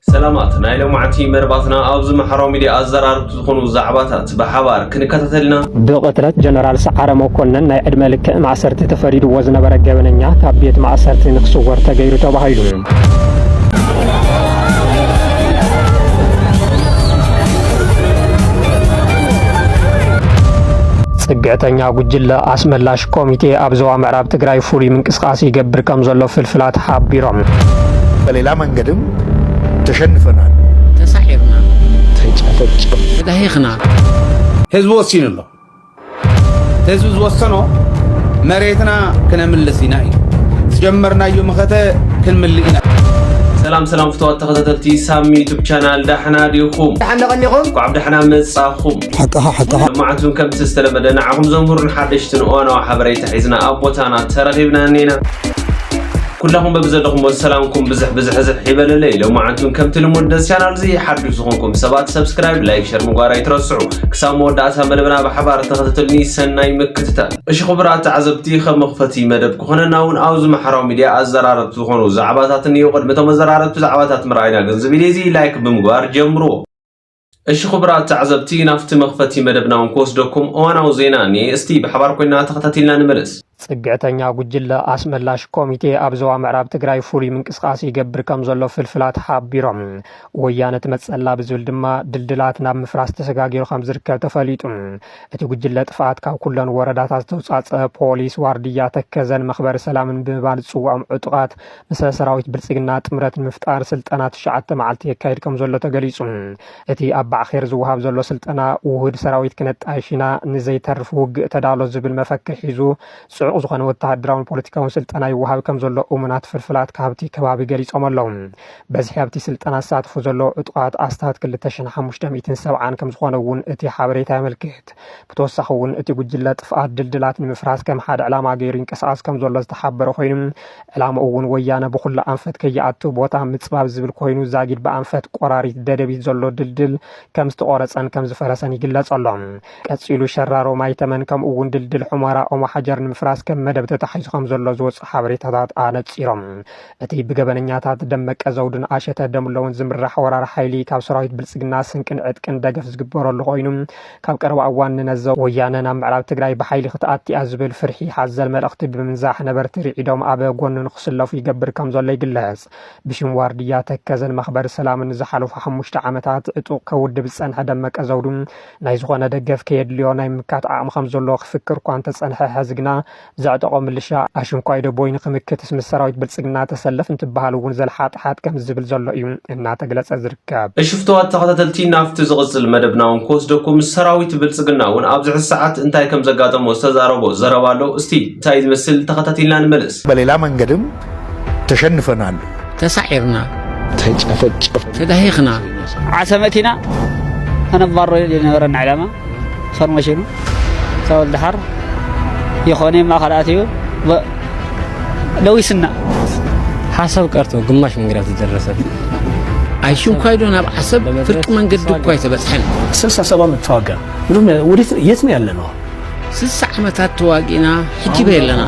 ሰላማት ናይ ሎማዕንቲ መርባትና ኣብዚ ማሕራዊ ሚድያ ኣዘራርብቲ ዝኾኑ ዛዕባታት ብሓባር ክንከታተል ኢና። ብቕትለት ጀነራል ሰዓረ መኮነን ናይ ዕድመ ልክዕ ማእሰርቲ ተፈሪድዎ ዝነበረ ገበነኛ ካብ ቤት ማእሰርቲ ንክስወር ተገይሩ ተባሂሉ። ፅግዕተኛ ጉጅለ ኣስመላሽ ኮሚቴ ኣብ ዞባ ምዕራብ ትግራይ ፍሉይ ምንቅስቃስ ይገብር ከም ዘሎ ፍልፍላት ሓቢሮም። በሌላ መንገድም ተሸንፈናል። ተሳዒርና። ተጨፈጨፍና። ተጋሂኽና። ህዝቢ ወሲኑ ኣሎ። ህዝቢ ዝወሰኖ መሬትና ክነምልስ ኢና ኢዩ። ዝጀመርናዮ መኸተ ክንምልእ ኢና። ሰላም ሰላም ፍተዋት ተኸታተልቲ ሳሚ ዩቱብ ቻናል ዳሕና ዲኹም ዳሕና ቀኒኹም እንኳዕ ብዳሕና መጻኹም ሓቃኻ ሓቃኻ መዓልቱን ከምቲ ዝተለመደ ንዓኹም ዘምህሩን ሓደሽትን እዋናዊ ሓበሬታ ሒዝና ኣብ ቦታና ተረኺብና እኒና ኩላኹም በብዘለኹምዎ ሰላምኩም ብዝሕ ብዝሕዝሕ ይበለለይ ሎማዓንቲ እውን ከምቲ ልሙድ ደስ ቻናል እዚ ሓዱሽ ዝኾንኩም ሰባት ሰብስክራይብ ላይክ ሸር ምግባር ኣይትረስዑ ክሳብ መወዳእታ መደብና ብሓባር ተኸታተልኒ ሰናይ ምክትታል እሺ ክቡራት ተዓዘብቲ ከም መኽፈቲ መደብ ክኾነና እውን ኣብዚ ማሕበራዊ ሚድያ ኣዘራረብቲ ዝኾኑ ዛዕባታት እኒኡ ቅድሚ እቶም ኣዘራረብቲ ዛዕባታት ምርኣይና ግን እዚ ቪድዮ እዚ ላይክ ብምግባር ጀምርዎ እሺ ክቡራት ተዓዘብቲ ናፍቲ መኽፈቲ መደብና እውን ክወስደኩም እዋናዊ ዜና እኒኤ እስቲ ብሓባር ኮይና ተኸታቲልና ንመለስ። ፅግዕተኛ ጉጅለ ኣስመላሽ ኮሚቴ ኣብ ዞባ ምዕራብ ትግራይ ፍሉይ ምንቅስቓስ ይገብር ከም ዘሎ ፍልፍላት ሓቢሮም። ወያነ ትመፀላ ብዝብል ድማ ድልድላት ናብ ምፍራስ ተሰጋጊሩ ከም ዝርከብ ተፈሊጡ። እቲ ጉጅለ ጥፍኣት ካብ ኩለን ወረዳታት ዝተውፃፀ ፖሊስ፣ ዋርድያ፣ ተከዘን መኽበሪ ሰላምን ብምባል ዝፅውዖም ዕጡቓት ምስ ሰራዊት ብልፅግና ጥምረት ንምፍጣር ስልጠና ትሽዓተ መዓልቲ የካይድ ከምዘሎ ተገሊፁ። እቲ ኣብ ባዕኼር ዝወሃብ ዘሎ ስልጠና ውሁድ ሰራዊት ክነጣይሽ ኢና፣ ንዘይተርፍ ውግእ ተዳሎ ዝብል መፈክር ሒዙ ፅዑቕ ዝኾነ ወተሃደራውን ፖለቲካውን ስልጠና ይወሃብ ከምዘሎ እሙናት ፍልፍላት ካብቲ ከባቢ ገሊፆም ኣለው። በዝሒ ኣብቲ ስልጠና ዝሳተፉ ዘለዉ ዕጡቓት ኣስታት ክልተ ሽሕን ሓሙሽተ ሚእትን ሰብዓን ከምዝኾነ እውን እቲ ሓበሬታ የመልክት። ብተወሳኺ እውን እቲ ጉጅለ ጥፍኣት ድልድላት ንምፍራስ ከም ሓደ ዕላማ ገይሩ ይንቀሳቐስ ከምዘሎ ዝተሓበረ ኮይኑ፣ ዕላምኡ እውን ወያነ ብኹሉ ኣንፈት ከይኣቱ ቦታ ምፅባብ ዝብል ኮይኑ ዛጊድ ብኣንፈት ቆራሪት ደደቢት ዘሎ ድልድል ከምዝተቖረፀን ከምዝፈረሰን ይግለፅ ኣሎ። ቀፂሉ ሸራሮ ማይተመን ከምኡ እውን ድልድል ሑመራ ኦሞሓጀር ንምፍራስ ከም መደብ ተታሒዙ ከምዘሎ ዝወፅኡ ሓበሬታታት ኣነፂሮም እቲ ብገበነኛታት ደመቀ ዘውዱን ኣሸተ ደምለውን ዝምራሕ ወራር ሓይሊ ካብ ሰራዊት ብልፅግና ስንቅን ዕጥቅን ደገፍ ዝግበረሉ ኮይኑ ካብ ቀረባ እዋን ንነዘው ወያነ ናብ ምዕራብ ትግራይ ብሓይሊ ክትኣቲያ ዝብል ፍርሒ ሓዘል መልእኽቲ ብምንዛሕ ነበርቲ ርዒዶም ኣብ ጎኑ ንክስለፉ ይገብር ከም ዘሎ ይግለፅ። ብሽም ዋርድያ ተከዘን መኽበሪ ሰላምን ንዝሓለፉ ሓሙሽተ ዓመታት ዕጡቕ ከውድብ ዝፀንሐ ደመቀ ዘውዱ ናይ ዝኾነ ደገፍ ከየድልዮ ናይ ምምካት ዓቕሚ ከም ዘለዎ ክፍክር እኳ እንተፀንሐ ሐዚ ግና ዘዕጠቖ ምልሻ ኣሽንኳይ ደቦይ ንክምክትስ ምስ ሰራዊት ብልፅግና ተሰለፍ እንትበሃል እውን ዘልሓጥሓጥ ከምዝብል ዘሎ እዩ እናተግለፀ ዝርከብ። እሺ ፍቱዋት ተኸታተልቲ ናብቲ ዝቕፅል መደብና እውን ክወስደኩም ሰራዊት ብልፅግና እውን ኣብዚ ሕዚ ሰዓት እንታይ ከምዘጋጠሞ ዝተዛረቦ ዘረባ ኣሎ እስቲ እንታይ ዝመስል ተኸታቲልና ንመለስ። በሌላ መንገድም ተሸንፈናል። ተሳዒርና። ተጨፈጨፍና። ተዳሂኽና። ዓሰመት ኢና ከነባሮ ዝነበረና ዕላማ ፎርመሽኑ ሳውል ደሓር ይኾነ ማእኸል ኣትዩ ለዊስና ሓሳብ ቀርቶ ግማሽ መንገዳ ተደረሰት። ኣይሽንኳይዶ ናብ ዓሰብ ፍርቂ መንገዲ እኳ ኣይተበፅሐን። ስልሳ ሰባ ምተዋጋ የት ነው ያለ ነው ስሳ ዓመታት ተዋጊእና ሕጂ በይ ኣለና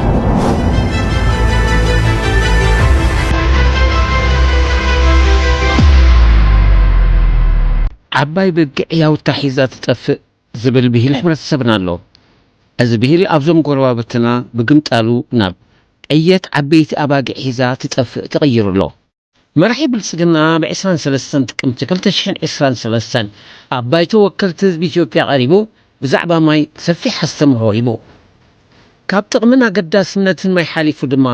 ዓባይ በጊዕ ያውታ ሒዛ ትጠፍእ ዝብል ብሂል ሕብረተሰብና ኣሎ። እዚ ብሂል ኣብዞም ጎረባብትና ብግምጣሉ ናብ፣ ዕየት ዓበይቲ ኣባጊዕ ሒዛ ትጠፍእ ተቐይሩ ኣሎ። መራሒ ብልፅግና ኣብ ዕስራን ሰለስተን ጥቅምቲ ክልተ ሽሕን ዕስራን ሰለስተን ኣብ ባይቶ ወከልቲ ህዝቢ ኢትዮጵያ ቀሪቡ ብዛዕባ ማይ ሰፊሕ ኣስተምህሮ ሂቡ። ካብ ጥቕምን ኣገዳስነትን ማይ ሓሊፉ ድማ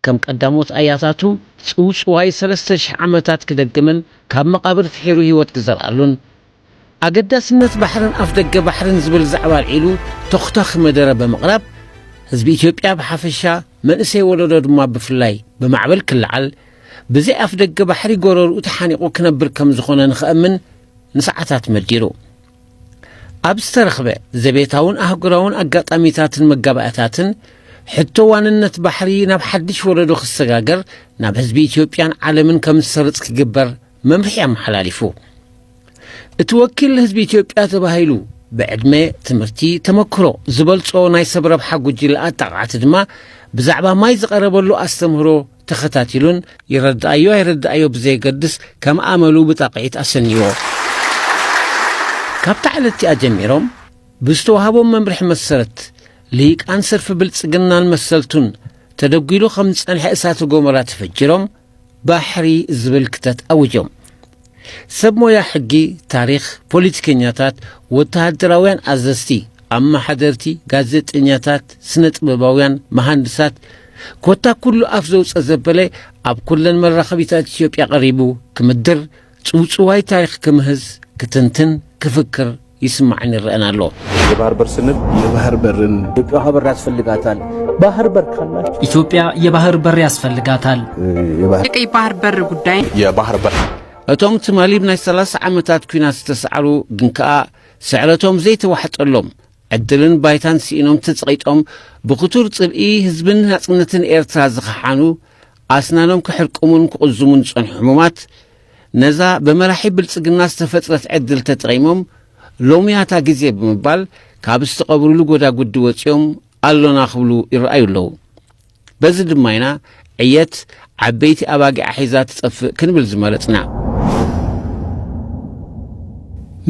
ከም ቀዳሞት ኣያታቱ ፅውፅዋይ ሰለስተ ሽሕ ዓመታት ክደግምን ካብ መቓብር ፍሒሩ ህይወት ክዘርኣሉን ኣገዳስነት ባሕርን ኣፍደገ ባሕርን ዝብል ዛዕባ ኣልዒሉ ተኹታኺ መደረ ብምቕራብ ህዝቢ ኢትዮጵያ ብሓፈሻ መንእሰይ ወለዶ ድማ ብፍላይ ብማዕበል ክለዓል ብዘይ ኣፍደገ ባሕሪ ጎረርኡ ተሓኒቑ ክነብር ከም ዝኾነ ንኸእምን ንሰዓታት መዲሩ ኣብ ዝተረኽበ ዘቤታውን ኣህጉራውን ኣጋጣሚታትን መጋባእታትን ሕቶ ዋንነት ባሕሪ ናብ ሓድሽ ወለዶ ክሰጋገር ናብ ህዝቢ ኢትዮጵያን ዓለምን ከም ዝሰርጽ ክግበር መምርሒ ኣመሓላሊፉ። እቲ ወኪል ህዝቢ ኢትዮጵያ ተባሂሉ ብዕድመ፣ ትምህርቲ፣ ተመክሮ ዝበልጾ ናይ ሰብ ረብሓ ጉጅለ ኣጣቃዕቲ ድማ ብዛዕባ ማይ ዝቐረበሉ ኣስተምህሮ ተኸታቲሉን ይረድኣዮ ኣይረድኣዮ ብዘየገድስ ከም ኣመሉ ብጣቕዒት ኣሰንይዎ። ካብታ ዕለት እቲኣ ጀሚሮም ብዝተዋህቦም መምርሒ መሰረት ልሂቃን ሰልፊ ብልጽግናን መሰልቱን ተደጒሉ ከም ዝጸንሐ እሳተ ጎመራ ተፈጅሮም ባሕሪ ዝብል ክተት ኣዊጆም። ሰብ ሞያ ሕጊ፣ ታሪኽ፣ ፖሊቲከኛታት፣ ወተሃደራውያን ኣዘዝቲ፣ ኣመሓደርቲ፣ ጋዜጠኛታት፣ ስነ ጥበባውያን፣ መሃንድሳት ኮታ ኩሉ ኣፍ ዘውጸ ዘበለ ኣብ ኩለን መራኸቢታት ኢትዮጵያ ቀሪቡ ክምድር ጽውጽዋይ ታሪኽ ክምህዝ፣ ክትንትን፣ ክፍክር ይስማዕን ይረእን ኣሎ። የባህር በር ስንል የባህር በርን ኢትዮጵያ ውሃ በር ያስፈልጋታል። ባህር በር ካላችሁ ኢትዮጵያ የባህር በር ያስፈልጋታል። የቀይ ባህር በር ጉዳይ የባህር በር እቶም ትማሊ ብናይ 30 ዓመታት ኩናት ዝተሰዓሩ ግን ከኣ ስዕረቶም ዘይተዋሕጠሎም ዕድልን ባይታን ስኢኖም ተጸቒጦም ብክቱር ጽልኢ ህዝብን ናጽነትን ኤርትራ ዝኸሓኑ ኣስናኖም ክሕርቅሙን ክቕዝሙን ዝጸንሑ ሕሙማት፣ ነዛ ብመራሒ ብልጽግና ዝተፈጥረት ዕድል ተጠቒሞም ሎሚያታ ግዜ ብምባል ካብ ዝተቐብሩሉ ጎዳጉዲ ወጺኦም ኣሎና ክብሉ ይረኣዩ ኣለዉ። በዚ ድማ ኢና ዕየት ዓበይቲ ኣባጊዓ ሒዛ ትጠፍእ ክንብል ዝመረጽና።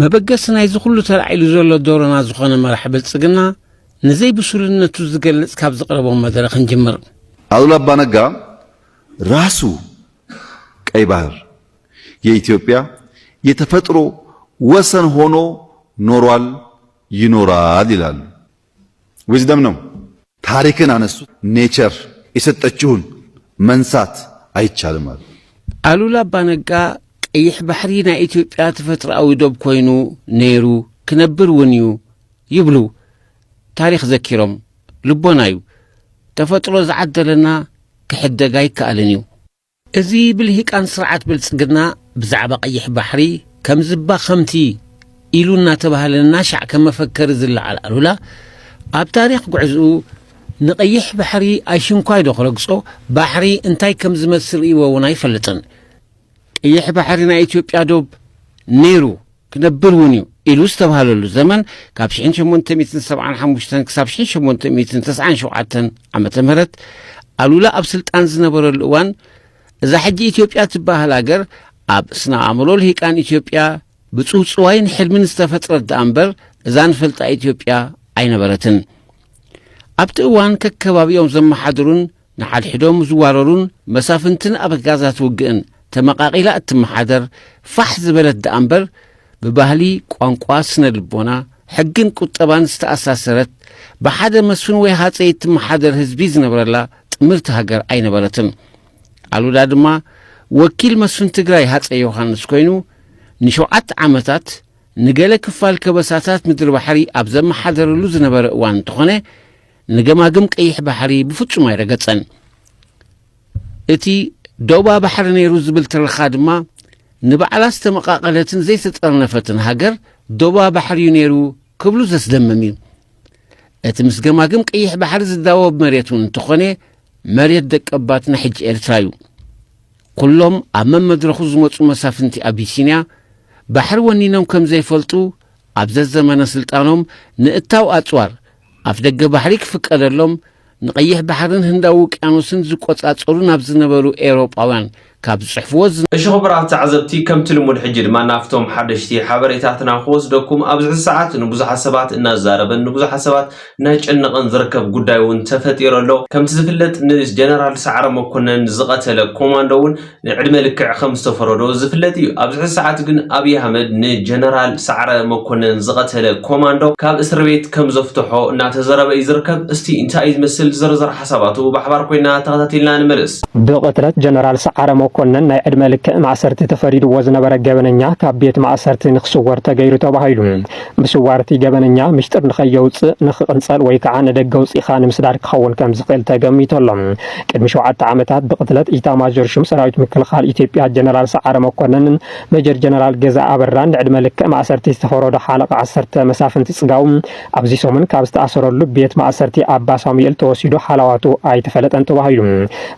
መበገሲ ናይዚ ኩሉ ተላዒሉ ዘሎ ዶሮና ዝኾነ መራሒ ብልጽግና፣ ንዘይ ብሱልነቱ ዝገልጽ ካብ ዘቕረቦ መደረ ክንጅምር። ኣሉላ ኣባ ነጋ ራሱ ቀይ ባህር የኢትዮጵያ የተፈጥሮ ወሰን ሆኖ ኖሯል ይኖራል ይላሉ። ዊዝደም ነው። ታሪክን አነሱ። ኔቸር የሰጠችውን መንሳት አይቻልም አሉ። ኣሉላ ኣባ ነጋ ቀይሕ ባሕሪ ናይ ኢትዮጵያ ተፈጥሮኣዊ ዶብ ኮይኑ ነይሩ ክነብር እውን እዩ ይብሉ ታሪኽ ዘኪሮም። ልቦና እዩ ተፈጥሮ ዝዓደለና ክሕደግ ኣይከኣልን እዩ። እዚ ብልሂቃን ስርዓት ብልጽግና ብዛዕባ ቀይሕ ባሕሪ ከምዚ እባ ከምቲ ኢሉ እናተባህለ እናሻዕ ከም መፈከሪ ዝለዓል ኣሉላ ኣብ ታሪኽ ጉዕዝኡ ንቀይሕ ባሕሪ ኣይሽንኳይ ዶ ክረግጾ ባሕሪ እንታይ ከም ዝመስል ርእይዎ እውን ኣይፈልጥን። ቀይሕ ባሕሪ ናይ ኢትዮጵያ ዶብ ነይሩ። ክነብር እውን እዩ ኢሉ ዝተብሃለሉ ዘመን ካብ ሽሕን ሸሞንተ ሚእትን ሰብዓን ሓሙሽተን ክሳብ ሽሕን ሸሞንተ ሚእትን ተስዓን ሸውዓተን ዓመተ ምህረት ኣሉላ ኣብ ስልጣን ዝነበረሉ እዋን እዛ ሕጂ ኢትዮጵያ ትበሃል ሃገር ኣብ ስነ ኣእምሮ ልሂቃን ኢትዮጵያ ብጽውጽዋይን ሕልምን ዝተፈጥረት ደኣ እምበር እዛ ንፈልጣ ኢትዮጵያ ኣይነበረትን ኣብቲ እዋን ከከባቢኦም ዘመሓድሩን ንሓድሕዶም ዝዋረሩን መሳፍንትን ኣበጋዛት ውግእን ተመቓቒላ እትመሓደር ፋሕ ዝበለት ደኣ እምበር ብባህሊ፣ ቋንቋ፣ ስነ ልቦና፣ ሕግን ቁጠባን ዝተኣሳሰረት ብሓደ መስፍን ወይ ሃፀይ እትመሓደር ህዝቢ ዝነብረላ ጥምርቲ ሃገር ኣይነበረትን። ኣሉላ ድማ ወኪል መስፍን ትግራይ ሃፀይ ዮሃንስ ኮይኑ ንሸውዓተ ዓመታት ንገለ ክፋል ከበሳታት ምድሪ ባሕሪ ኣብ ዘመሓደረሉ ዝነበረ እዋን እንተኾነ ንገማግም ቀይሕ ባሕሪ ብፍጹም ኣይረገጸን። እቲ ዶባ ባሕሪ ነይሩ ዝብል ትረኻ ድማ ንባዕላ ዝተመቓቐለትን ዘይተጠርነፈትን ሃገር ዶባ ባሕሪ እዩ ነይሩ ክብሉ ዘስደምም እዩ። እቲ ምስ ገማግም ቀይሕ ባሕሪ ዝዳወብ መሬት እውን እንተኾነ መሬት ደቀባት ናይ ሕጂ ኤርትራ እዩ። ኩሎም ኣብ መመድረኹ ዝመጹ መሳፍንቲ ኣቢሲንያ ባሕሪ ወኒኖም ከም ዘይፈልጡ ኣብ ዘዘመነ ስልጣኖም ንእታው ኣጽዋር ኣፍደገ ባሕሪ ክፍቀደሎም ንቀይሕ ባሕርን ህንዳዊ ውቅያኖስን ዝቆጻጸሩ ናብ ዝነበሩ ኤውሮጳውያን ካብ ዝጽሕፍዎ እሺ ኹቡራት ተዓዘብቲ ከምቲ ልሙድ ሕጂ ድማ ናብቶም ሓደሽቲ ሓበሬታትና ክወስደኩም ኣብዚ ሕዚ ሰዓት ንቡዙሓት ሰባት እናዛረበን ንቡዙሓት ሰባት እናጨነቐን ዝርከብ ጉዳይ እውን ተፈጢሩ ኣሎ። ከምቲ ዝፍለጥ ንጀነራል ሰዓረ መኮነን ዝቐተለ ኮማንዶ እውን ንዕድመ ልክዕ ከምዝተፈረዶ ዝፍለጥ እዩ። ኣብዚ ሕዚ ሰዓት ግን ኣብይ ኣህመድ ንጀነራል ሰዓረ መኮነን ዝቐተለ ኮማንዶ ካብ እስርቤት ከምዘፍተሖ እናተዘረበ እዩ ዝርከብ። እስቲ እንታይ እዩ ዝመስል ዝርዝር ሓሳባቱ ብሓባር ኮይና ተኸታቲልና ንመለስ። ብቕትለት ጀነራል ሰዓረ መኮነን ናይ ዕድመ ልክዕ ማእሰርቲ ተፈሪድዎ ዝነበረ ገበነኛ ካብ ቤት ማእሰርቲ ንክስወር ተገይሩ ተባሂሉ ምስዋር እቲ ገበነኛ ምስጢር ንኸየውጽእ፣ ንኽቕንጸል ወይ ከዓ ንደገ ኣውጺእኻ ንምስዳድ ክኸውን ከምዝኽእል ተገሚቱ ኣሎ። ቅድሚ ሸውዓተ ዓመታት ብቕትለት ኢታማዦር ሹም ሰራዊት ምክልኻል ኢትዮጵያ ጀነራል ሰዓረ መኮነንን ሜጀር ጀነራል ገዛኢ ኣበራን ንዕድመ ልክዕ ማእሰርቲ ዝተፈረዶ ሓለቓ ዓሰርተ መሳፍንቲ ፅጋው ኣብዚ ሰሙን ካብ ዝተኣሰረሉ ቤት ማእሰርቲ ኣባ ሳሙኤል ተወሲዱ ሓላዋቱ ኣይተፈለጠን ተባሂሉ።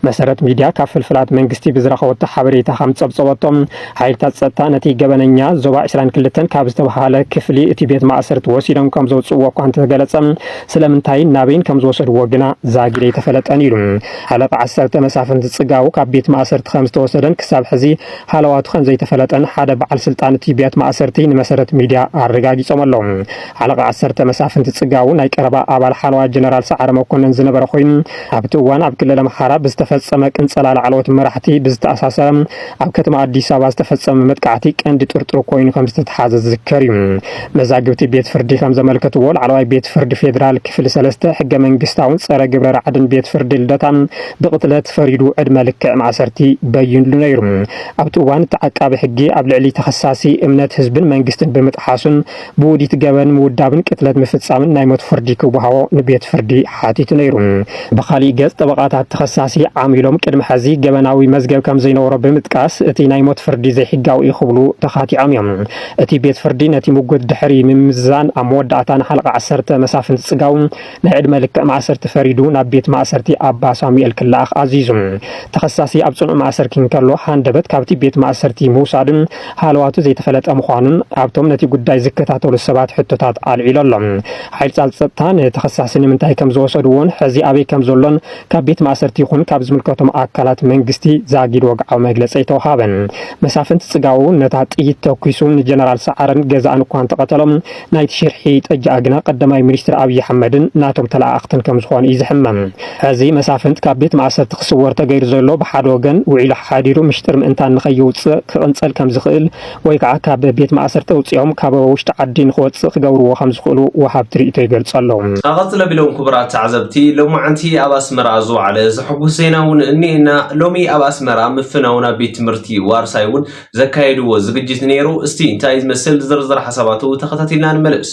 መሰረት ሚዲያ ካብ ፍልፍላት መንግስቲ ብዝረኸበቶ ሓበሬታ ከምፀብፀበቶ ሓይልታት ጸጥታ ነቲ ገበነኛ ዞባ ዕስራን ክልተን ካብ ዝተብሃለ ክፍሊ እቲ ቤት ማእሰርቲ ወሲዶም ከም ዘውጽእዎ እኳ እንተተገለጸ ስለምንታይን ናበይን ከም ዝወሰድዎ ግና ዛጊድ ኣይተፈለጠን ኢሉ። ሃለቃ ዓሰርተ መሳፍንቲ ጽጋቡ ካብ ቤት ማእሰርቲ ከም ዝተወሰደን ክሳብ ሕዚ ሃለዋቱ ከም ዘይተፈለጠን ሓደ በዓል ስልጣን እቲ ቤት ማእሰርቲ ንመሰረት ሚድያ ኣረጋጊጾም ኣለው። ሃለቃ ዓሰርተ መሳፍንቲ ጽጋቡ ናይ ቀረባ ኣባል ሓለዋ ጀነራል ሰዓረ መኮነን ዝነበረ ኮይኑ ኣብቲ እዋን ኣብ ክልል ኣምሓራ ብዝተፈፀመ ቅንፀላ ላዕለዎት መራሕቲ ብዝተኣሳሰረ ኣብ ከተማ ኣዲስ ኣበባ ዝተፈፀመ መጥቃዕቲ ቀንዲ ጥርጡር ኮይኑ ከም ዝተተሓዘ ዝዝከር እዩ። መዛግብቲ ቤት ፍርዲ ከም ዘመልከትዎ ላዕለዋይ ቤት ፍርዲ ፌዴራል ክፍሊ ሰለስተ ሕገ መንግስታውን ፀረ ግብረ ራዕድን ቤት ፍርዲ ልደታ ብቕትለት ፈሪዱ ዕድመ ልክዕ ማእሰርቲ በይንሉ ነይሩ። ኣብቲ እዋን እቲ ዓቃቢ ሕጊ ኣብ ልዕሊ ተኸሳሲ እምነት ህዝብን መንግስትን ብምጥሓሱን ብውዲት ገበን ምውዳብን ቅትለት ምፍጻምን ናይ ሞት ፍርዲ ክወሃቦ ንቤት ፍርዲ ሓቲቱ ነይሩ። ብኻሊእ ገጽ ጠበቓታት ተኸሳሲ ዓም ኢሎም ቅድሚ ሐዚ ገበናዊ መዝገብ ከምዘይነበሮ ብምጥቃስ እቲ ናይ ሞት ፍርዲ ዘይሕጋዊ እዩ ክብሉ ተኻቲዖም እዮም። እቲ ቤት ፍርዲ ነቲ ሙጉት ድሕሪ ምምዝዛን ኣብ መወዳእታ ንሓለቓ ዓሰርተ መሳፍንቲ ጽጋው ናይ ዕድመ ልክዕ ማእሰርቲ ፈሪዱ ናብ ቤት ማእሰርቲ ኣባ ሳሙኤል ክለኣኽ ኣዚዙ። ተኸሳሲ ኣብ ጽኑዕ ማእሰርኪ እንከሎ ሃንደበት ካብቲ ቤት ማእሰርቲ ምውሳዱን ሃለዋቱ ዘይተፈለጠ ምዃኑን ኣብቶም ነቲ ጉዳይ ዝከታተሉ ሰባት ሕቶታት ኣልዒሉ ኣሎ። ሓይልጻል ጸጥታ ንተኸሳሲ ንምንታይ ከም ዝወሰድዎን ሕዚ ኣበይ ከም ዘሎን ካብ ቤት ማእሰርቲ ይኹን ካብ ዝምልከቶም ኣካላት መንግስቲ ዛጊድ ወግዓዊ መግለጺ ኣይተውሃበን። መሳፍንቲ ጽጋቡ ነታ ጥይት ተኲሱ ንጀነራል ሰዓረን ገዛእን እኳ እንተቐተሎም፣ ናይቲ ሽርሒ ጠጅኣ ግና ቀዳማይ ሚኒስትር ኣብዪ ኣሕመድን ናቶም ተለኣኣኽትን ከም ዝኾኑ እዩ ዝሕመም። ሕዚ መሳፍንት ካብ ቤት ማእሰርቲ ክስወር ተገይሩ ዘሎ ብሓደ ወገን ውዒሉ ሓሓዲሩ ምሽጥር ምእንታን ንከይውፅእ ክቕንፀል ከም ዝኽእል ወይ ከዓ ካብ ቤት ማእሰርቲ ኣውፂኦም ካብ ውሽጢ ዓዲ ንክወፅእ ክገብርዎ ከም ዝኽእሉ ወሃብቲ ሪኢቶ ይገልፁ ኣለው። ኣቐፅለ ቢሎም ክቡራት ተዓዘብቲ ሎማዕንቲ ኣብ ኣስመራ ዝወዓለ ዘሕጉስ ዜና እውን እኒኤና። ሎሚ ኣብ ኣስመራ ምፍናው ናብ ቤት ትምህርቲ ዋርሳይ እውን ዘካየድዎ ዝግጅት ነይሩ። እስቲ እንታይ ዝመስል ዝርዝር ሓሳባቱ ተኸታቲልና ንመለስ።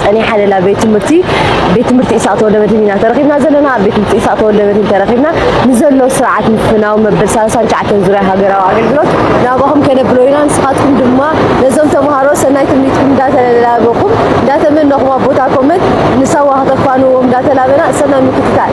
ጸኒሓ ሌላ ቤት ትምህርቲ ቤት ትምህርቲ ኢሳቅ ተወልደመድህን ኢና ተረኺብና ዘለና ኣብ ቤት ትምህርቲ ኢሳቅ ተወልደመድህን ተረኺብና ንዘሎ ስርዓት ምፍናው መበል 39 ዙርያ ሃገራዊ ኣገልግሎት ናባኹም ከነብሎ ኢና ንስኻትኩም ድማ ነዞም ተምሃሮ ሰናይ ትምኒትኩም እንዳተላበኹም እንዳተመነኹም ኣብ ቦታ ኮመት ንሳዋ ከተፋንዎም እንዳተላበና ሰናይ ምክትታል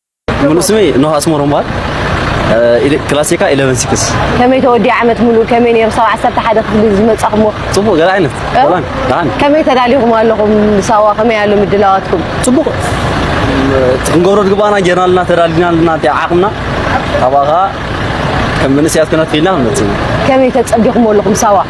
ሙሉእ ስመይ ኖህ ኣስመሮም ይበሃል። ክላሴካ ኢለቨን ሲክስ። ከመይ ተወዲኣ ዓመት ሙሉእ ከመይ ነይሩ ሳዋ ዓሰርተ ሓደ ክፍሊ ዝመጻኹሞ? ጽቡቕ ገለ ዓይነት ሰላም ደሓን። ከመይ ተዳሊኹም ኣለኹም ንሳዋ ከመይ ኣሎ ምድላዋትኩም? ጽቡቕ እቲ ክንገብሮ ዝግባኣና ጌርና ኣለና ተዳሊና ኣለና እቲ ዓቕምና ካብኣ ከኣ ከም መንእሰያት ኮይና ትኽኢልና ክንመጽእ ኢና። ከመይ ተጸቢኹሞ ኣለኹም ሳዋ?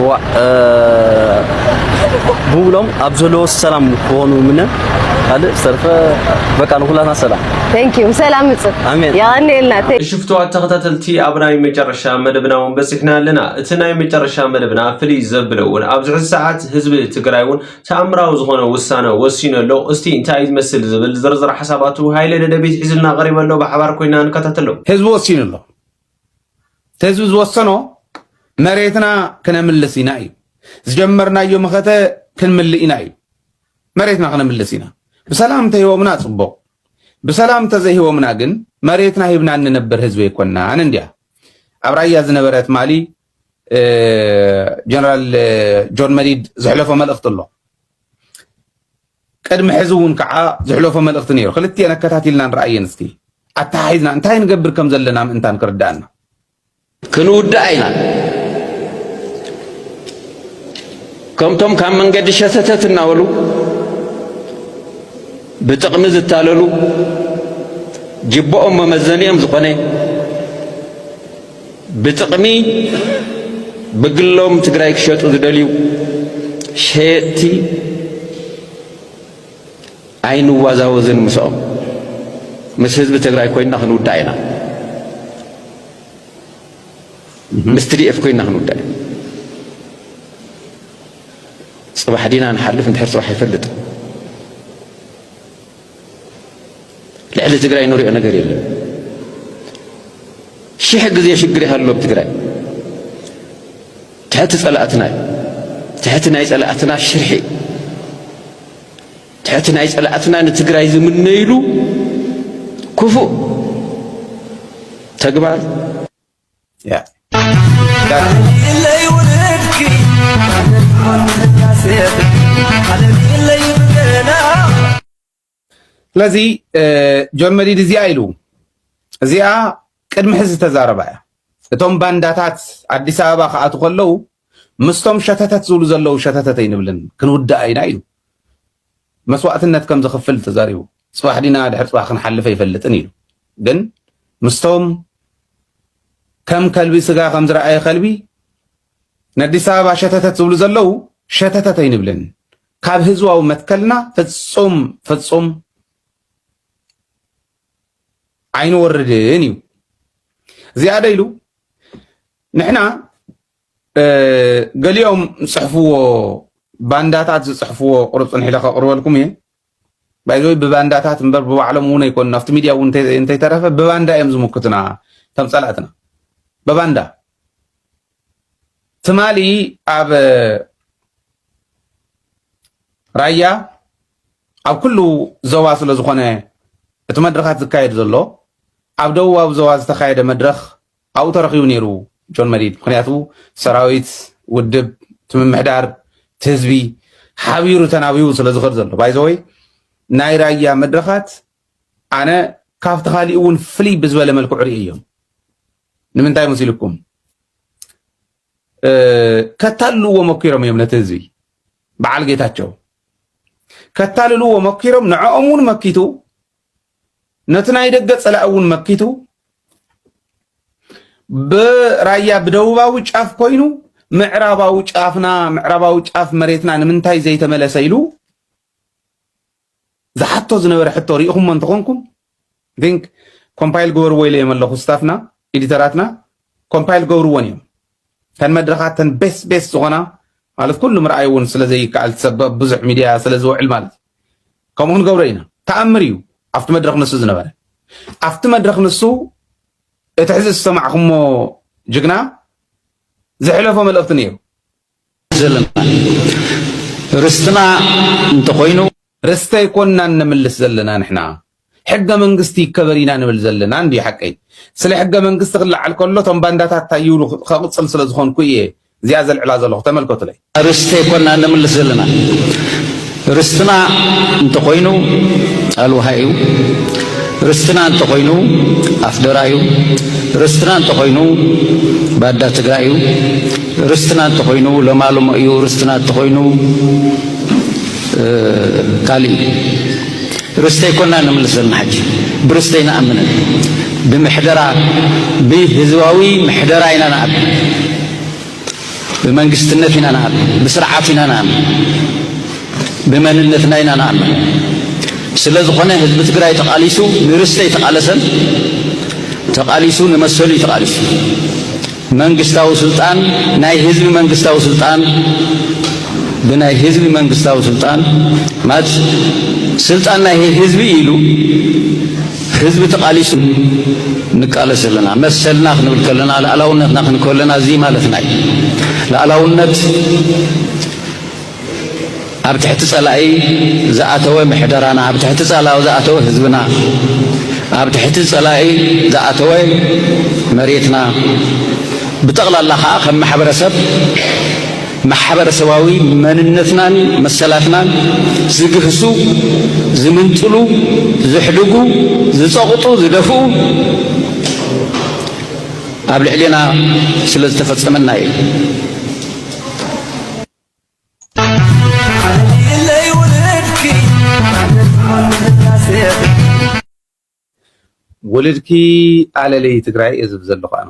እዋእ ብውሎም ኣብ ዘለዎ ሰላም ክኾኑ ምነ ካልእ ዝተርፈ በቃ ንኩላትና ሰላም ቴንክ ዩ ሰላም ምጽእ ኣሜን የቀንየልና እሺ ፍትዋት ተኸታተልቲ ኣብ ናይ መጨረሻ መደብና እውን በፂሕና ኣለና እቲ ናይ መጨረሻ መደብና ፍልይ ዘብለ እውን ኣብዚ ሕዚ ሰዓት ህዝቢ ትግራይ እውን ተኣምራዊ ዝኾነ ውሳነ ወሲኑ ኣሎ እስቲ እንታይ ዝመስል ዝብል ዝርዝር ሓሳባቱ ሃይለ ደደቢት ሒዙልና ቀሪበ ኣሎ ብሓባር ኮይና ንከታተሎ ህዝቢ ወሲኑ ኣሎ ህዝቢ ዝወሰኖ መሬትና ክነምልስ ኢና እዩ ዝጀመርናዮ መኸተ ክንምልእ ኢና እዩ መሬትና ክነምልስ ኢና ብሰላም እንተሂቦምና ፅቡቕ ብሰላም እንተዘይሂቦምና ግን መሬትና ሂብና እንነብር ህዝቢ ኣይኮናን እንዲያ ኣብ ራያ ዝነበረት ማሊ ጀነራል ጆን መዲድ ዝሕለፎ መልእኽቲ ኣሎ ቅድሚ ሕዚ እውን ከዓ ዝሕለፎ መልእኽቲ ነይሩ ክልቲኤን ኣከታቲልና ንረኣየን እስኪ ኣተሓሒዝና እንታይ ንገብር ከም ዘለና ምእንታን ክርዳእና ክንውዳእ ኢና ከምቶም ካብ መንገዲ ሸተተት እናበሉ ብጥቕሚ ዝታለሉ ጅብኦም መመዘኒኦም ዝኾነ ብጥቕሚ ብግሎም ትግራይ ክሸጡ ዝደልዩ ሸየጥቲ ኣይንዋዛወዝን ምስኦም ምስ ህዝቢ ትግራይ ኮይና ክንውዳእ ኢና ምስ ትዲኤፍ ኮይና ክንውዳእ ኢና ጽባሕ ዲና ንሓልፍ እንድሕር ጽባሕ ይፈልጥ ልዕሊ ትግራይ ንሪኦ ነገር የለን። ሽሕ ግዜ ሽግር ይሃሉ ኣብ ትግራይ ትሕቲ ጸላእትና እዩ። ትሕቲ ናይ ጸላእትና ሽርሒ ትሕቲ ናይ ጸላእትና ንትግራይ ዝምነይሉ ክፉእ ተግባር ስለዚ ጆን መዲድ እዚኣ ኢሉ እዚኣ ቅድሚ ሕዚ ዝተዛረባ እያ። እቶም ባንዳታት ኣዲስ ኣበባ ክኣቱ ከለው ምስቶም ሸተተት ዝብሉ ዘለው ሸተተት ኣይንብልን ክንውዳእ ኢና ኢሉ መስዋእትነት ከም ዘኽፍል ተዛሪቡ። ጽባሕ ዲና ድሕሪ ጽባሕ ክንሓልፍ ኣይፈልጥን ኢሉ። ግን ምስቶም ከም ከልቢ ስጋ ከም ዝረኣየ ከልቢ ነዲስ ኣበባ ሸተተት ዝብሉ ዘለው ሸተተት ኣይንብልን። ካብ ህዝባዊ መትከልና ፍጹም ፍጹም ኣይንወርድን እዩ። እዚኣ ደ ኢሉ ንሕና ገሊኦም ዝፅሕፍዎ ባንዳታት ዝፅሕፍዎ ቁርፅን ሒለ ከቕርበልኩም እየ ባይዘወይ ብባንዳታት እምበር ብባዕሎም እውን ኣይኮኑ ኣብቲ ሚድያ እውን እንተይተረፈ ብባንዳ እዮም ዝምክቱና ከም ፀላእትና ብባንዳ ትማሊ ኣብ ራያ ኣብ ኩሉ ዘዋ ስለ ዝኾነ እቲ መድረኻት ዝካየድ ዘሎ ኣብ ደቡባዊ ዘዋ ዝተካየደ መድረኽ ኣብኡ ተረኺቡ ነይሩ ጆን መዲድ ምኽንያቱ ሰራዊት ውድብ ትምምሕዳር ትህዝቢ ሓቢሩ ተናቢቡ ስለ ዝኸድ ዘሎ ባይዘወይ ናይ ራያ መድረኻት ኣነ ካብቲ ካሊእ እውን ፍልይ ብዝበለ መልክዑ ርኢ እዮም ንምንታይ መሲልኩም ከታልልዎ መኪሮም እዮም ነቲ ህዝቢ በዓል ጌታቸው ከታልልዎ መኪሮም ንዕኦም እውን መኪቱ ነቲ ናይ ደገ ጸላኢ እውን መኪቱ ብራያ ብደቡባዊ ጫፍ ኮይኑ ምዕራባዊ ጫፍና ምዕራባዊ ጫፍ መሬትና ንምንታይ ዘይተመለሰ ኢሉ ዝሓቶ ዝነበረ ሕቶ ርኢኹሞ እንተኾንኩም ን ኮምፓይል ግበርዎ ኢለ ኣለኹ ስታፍና ኤዲተራትና ኮምፓይል ገብርዎን እዮም እተን መድረኻት እተን ቤስ ቤስ ዝኾና ማለት ኩሉ ምርኣይ እውን ስለ ዘይከኣል ሰብ ኣብ ብዙሕ ሚድያ ስለ ዝውዕል ማለት እዩ ከምኡ ክንገብሮ ኢና ተኣምር እዩ ኣብቲ መድረኽ ንሱ ዝነበረ ኣብቲ መድረኽ ንሱ እቲ ሕዚ ዝሰማዕኹሞ ጅግና ዝሕለፎ መልእኽቲ ነይሩ ዘለና ርስትና እንተኾይኑ ርስቲ ኣይኮናን ነምልስ ዘለና ንሕና ሕገ መንግስቲ ይከበር ኢና ንብል ዘለና እንድዩ ሓቀይ ስለ ሕገ መንግስቲ ክለዓል ከሎ እቶም ባንዳታት ታይ ይብሉ ከቅፅል ስለ ዝኮንኩ እየ እዚኣ ዘልዕላ ዘለኩ ተመልከቱለይ። ርስቲ ኣይኮናን ነምልስ ዘለና ርስትና እንተኮይኑ ኣልውሃ እዩ ርስትና እንተኮይኑ ኣፍደራ እዩ ርስትና እንተኮይኑ ባዳ ትግራይ እዩ ርስትና እንተኮይኑ ለማልሞ እዩ ርስትና እንተኮይኑ ካልእ እዩ ርስተይ ኮና ነምልስ ዘለና ሓጂ ብርስተይ ንኣምንን ብምሕደራ ብህዝባዊ ምሕደራ ኢና ንኣምን ብመንግስትነት ኢና ንኣምን ብስርዓት ኢና ንኣምን ብመንነትና ኢና ንኣምን ስለ ዝኾነ ህዝቢ ትግራይ ተቓሊሱ ንርስተይ ተቓለሰን ተቓሊሱ ንመሰሉ ተቓሊሱ መንግስታዊ ስልጣን ናይ ህዝቢ መንግስታዊ ስልጣን ብናይ ህዝቢ መንግስታዊ ስልጣን ማለት ስልጣን ናይ ህዝቢ ኢሉ ህዝቢ ተቓሊሱ ንቃለስ ኣለና መሰልና ክንብል ከለና ላእላውነትና ክንከለና እዚ ማለትና እዩ ላእላውነት ኣብ ትሕቲ ጸላኢ ዝኣተወ ምሕደራና፣ ኣብ ትሕቲ ጸላኢ ዝኣተወ ህዝብና፣ ኣብ ትሕቲ ጸላኢ ዝኣተወ መሬትና፣ ብጠቕላላ ከኣ ከም ማሕበረሰብ ማሕበረሰባዊ መንነትናን መሰላትናን ዝግህሱ፣ ዝምንጥሉ፣ ዝሕድጉ፣ ዝጸቕጡ፣ ዝደፍኡ ኣብ ልዕሌና ስለ ዝተፈጸመና እዩ። ውልድኪ ኣለለይ ትግራይ እየ ዝብል ዘለኹ ኣነ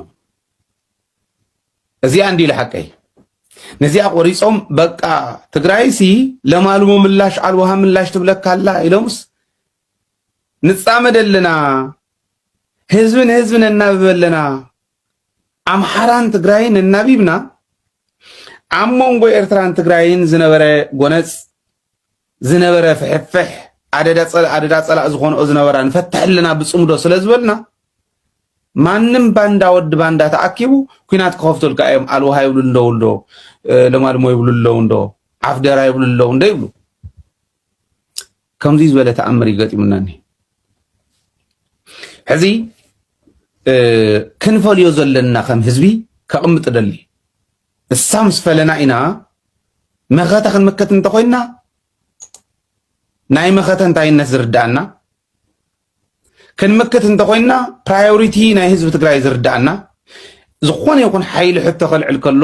እዚኣ እንዲ ሓቀይ ነዚኣ ቆሪፆም በቃ ትግራይሲ ለማልሞ ምላሽ ኣልውሃ ምላሽ ትብለካ ኣላ ኢሎምስ ንፃመድ ኣለና ህዝብን ህዝብን እናብብ ኣለና ኣምሓራን ትግራይን እናቢብና ኣብ መንጎ ኤርትራን ትግራይን ዝነበረ ጎነጽ ዝነበረ ፍሕፍሕ ኣደዳ ጸላእ ዝኾንኦ ዝነበራ ንፈትሐልና ብጽምዶ ስለ ዝበልና ማንም ባንዳ ወዲ ባንዳ ተኣኪቡ ኩናት ክኸፍቱልካ እዮም ኣልውሃ ይብሉ እንደው እንዶ ለማልሞ ይብሉ ኣለዉ እንዶ ዓፍደራ ይብሉ ኣለዉ እንዶ ይብሉ ከምዚ ዝበለ ተኣምር እዩ ገጢሙና እኒ ሕዚ ክንፈልዮ ዘለና ከም ህዝቢ ከቕምጥ ደሊ እሳ ምስ ፈለና ኢና መኸተ ክንምክት እንተኮይንና ናይ መኸተ እንታይነት ዝርዳእና ክንምክት እንተኾይንና ፕራዮሪቲ ናይ ህዝቢ ትግራይ ዝርዳእና ዝኾነ ይኹን ሓይሊ ሕቶ ከልዕል ከሎ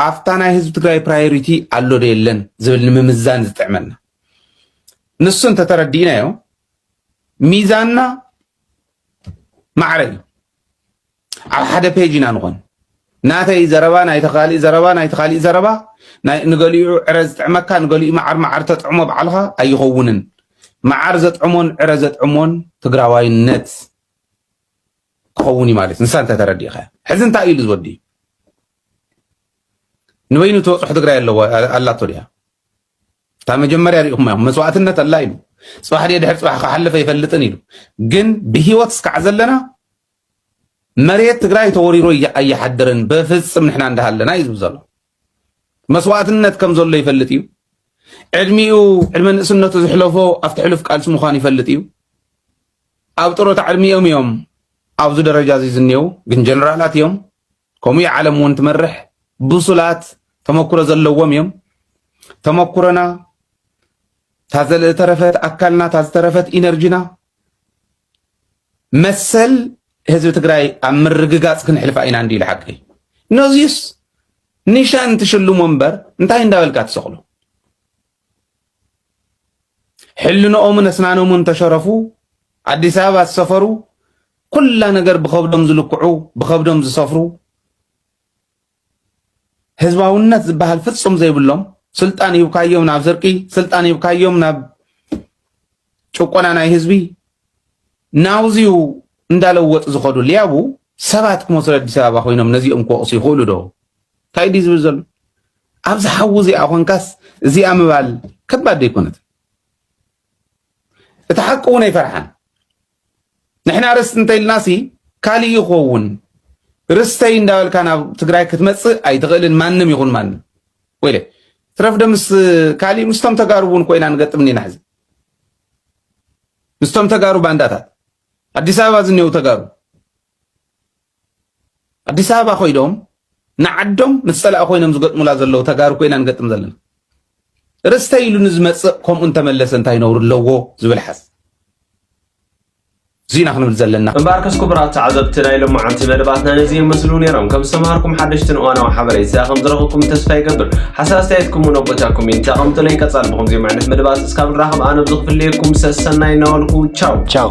ኣብታ ናይ ህዝቢ ትግራይ ፕራዮሪቲ ኣሎ ዶ የለን ዝብል ንምምዛን ዝጥዕመና ንሱ እንተተረዲእናዮ ሚዛንና ማዕረ እዩ። ኣብ ሓደ ፔጅ ኢና ንኾን ናተይ ዘረባ ናይቲ ካሊእ ዘረባ ናይቲ ካሊእ ዘረባ ንገሊኡ ዕረ ዝጥዕመካ ንገሊኡ መዓር መዓር ተጥዕሞ በዓልኻ ኣይኸውንን መዓር ዘጥዕሞን ዕረ ዘጥዕሞን ትግራዋይነት ክኸውን እዩ ማለት ንሳ እንተተረዲእኻ ሕዚ እንታይ እዩ ዝወዲ ንበይኑ ተበፅሑ ትግራይ ኣለዎ ኣላቶ ድያ እታ መጀመርያ ሪኢኹም ኢኹም መስዋእትነት ኣላ ኢሉ ፅባሕ ድየ ድሕር ፅባሕ ክሓልፈ ይፈልጥን ኢሉ ግን ብሂወት እስካዕ ዘለና መሬት ትግራይ ተወሪሮ ኣይሓድርን በፍፅም ንሕና እንዳሃለና እዩ ዝብል ዘሎ መስዋእትነት ከም ዘሎ ይፈልጥ እዩ ዕድሚኡ ዕድመ ንእስነቱ ዝሕለፎ ኣብቲ ሕሉፍ ቃልሲ ምዃኑ ይፈልጥ እዩ ኣብ ጥሮታ ዕድሚኦም እዮም ኣብዚ ደረጃ እዚ ዝኔው ግን ጀነራላት እዮም ከምኡ እያ ዓለም እውን ትመርሕ። ብሱላት ተመኩሮ ዘለዎም እዮም። ተመኩሮና እታ ዝተረፈት ኣካልና እታ ዝተረፈት ኢነርጂና መሰል ህዝቢ ትግራይ ኣብ ምርግጋፅ ክንሕልፋ ኢና እንዲ ኢሉ ሓቂ ነዚስ ኒሻን ትሽልሞ እምበር እንታይ እንዳበልካ ትሰቕሎ ሕልንኦምን ኣስናኖምን ተሸረፉ ኣዲስ ኣበባ ዝሰፈሩ ኩላ ነገር ብኸብዶም ዝልክዑ ብኸብዶም ዝሰፍሩ ህዝባውነት ዝበሃል ፍጹም ዘይብሎም ስልጣን ሂብካዮም ናብ ስርቂ ስልጣን ሂብካዮም ናብ ጭቆና ናይ ህዝቢ ናውዚዩ እንዳለወጥ ዝኸዱ ሊያቡ ሰባት ክመስሉ ኣዲስ ኣበባ ኮይኖም ነዚኦም ክወቕሱ ይኽእሉ ዶ እንታይ ድዩ ዝብል ዘሎ ኣብዚ ሓዊ እዚኣ ኮንካስ እዚኣ ምባል ከባድ ዘይኮነት እቲ ሓቂ እውን ኣይፈርሓን ንሕና ርስቲ እንተኢልናሲ ካልእ ይኸውን ርስተይ እንዳበልካ ናብ ትግራይ ክትመፅእ ኣይትኽእልን ማንም ይኹን ማንም ወይለ ትረፍ ዶ ምስ ካልእ ምስቶም ተጋሩ እውን ኮይና ንገጥም እኒና ሕዚ ምስቶም ተጋሩ ባንዳታት ኣዲስ ኣበባ ዝኒው ተጋሩ ኣዲስ ኣበባ ኮይዶም ንዓዶም ምስ ፀላኢ ኮይኖም ዝገጥሙላ ዘለዉ ተጋሩ ኮይና ንገጥም ዘለና ርስተ ኢሉ ንዝመፅእ ከምኡ እንተመለሰ እንታይ ነውሪ ኣለዎ ዝብል ሓዝ እዚና ክንብል ዘለና እምበኣርከስ ክቡራት ተዓዘብቲ ናይ ሎማዓንቲ መደባትና ነዚ ይመስሉ ነይሮም ከም ዝተምሃርኩም ሓደሽትን እዋናዊ ሓበሬታ ከም ዝረኸብኩም ተስፋ ይገብር ሓሳብ ኣስተያየትኩም እውን ኣብ ቦታ ኮሜንት ኣቐምጡለይ ቀፃሊ ብኸምዚኦም ዓይነት መደባት እስካብ ንራኸብ ኣነ ብዝኽፍለየኩም ሰሰናይ እናበልኩ ቻው ቻው